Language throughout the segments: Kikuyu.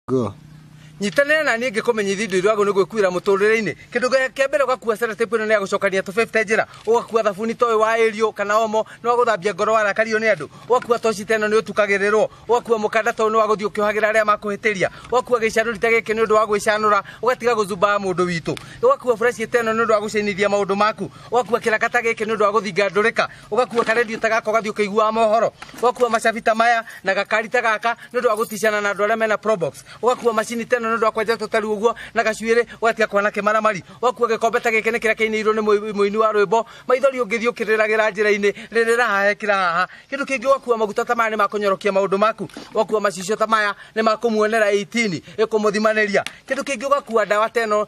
Go. nyitanĩra na niĩ ngĩkũmenyithia indo irwagwo nĩ gwĩkuĩra mũtũrĩre-inĩ kĩndũ gĩa- kĩa mbere ũgakuua sellotape ĩno nĩ ya gũcokania tũbebte njĩra ũgakuua thabuni toĩ wa ĩriũ kana omo nĩ wa gũthambia ngoro warakario nĩ andũ ũgakuua toci teno nĩ ũtukagĩrĩrwo ũgakuua mũkanda toyũ nĩ wa gũthiĩ ũkĩohagĩra arĩa makũhĩtĩria ũgakuua gĩcanũri ta gĩkĩ nĩ ũndũ wa gwĩcanũra ũgatiga gũthumbaga mũndũ witũ ũgakuua buraci teno nĩ ũndũ wa gũcenithia maũndũ maku ũgakuua kĩraka ta gĩkĩ nĩ ũndũ wa gũthinga ndũrĩka ũgakua karendio ta gaka ũgathiĩ ũkĩiguaga mohoro ũgakua macabi ta maya na gakari ta gaka nĩ ũndũ wa gũticana na andũ arĩa mena probox ũgakua macini teno nĩ ũndũ wa kwenja tũtari ũguo na gacuĩrĩ ũgatiga kwana kĩmaramari ũgakua gĩkombe ta gĩkĩ nĩ kĩrĩa kĩinĩirwo nĩ mũi- mũini wa rwĩmbo maithori ũngĩthiĩ ũkĩrĩragĩra njĩra-inĩ rĩrĩra haha ekĩra haha kĩndũ kĩngĩ ũgakua maguta ta maya nĩ makũnyorokia maũndũ maku ũgakua macicio ta maya nĩ makũmuonera 18 ĩkũmũthimanĩria kĩndũ kĩngĩ ũgakua ndawa teno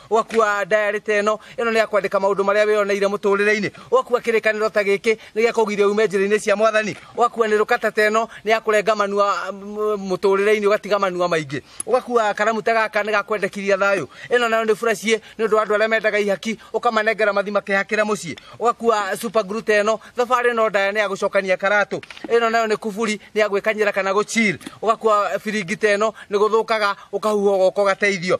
ũgakua ndayarĩ ta ĩno ĩno nĩ ya kwandĩka maũndũ marĩa wĩyoneire mũtũrĩre-inĩ ũgakua kĩrĩkanĩro ta gĩkĩ nĩ gĩa kũgiria ume njĩra-inĩ cia mwathani ũgakua nĩ rũkata ta ĩno nĩ ya kũrenga manua mũtũrĩre-inĩ ũgatiga manua maingĩ ũgakua karamu ta gaka nĩ gakwendekithia thayũ ĩno nayo nĩ buraciĩ nĩ ũndũ wa andũ arĩa mendaga ihaki ũkamanengera mathi makehakĩra mũciĩ ũgakua super glue ta ĩno thabarĩ ĩno ndaya nĩ ya gũcokania karatũ ĩno nayo nĩ kuburi nĩ ya gwĩkanyĩra kana gũchill ũgakua biringi ta ĩno nĩ gũthũkaga ũkahuha ũgoka ũgateithio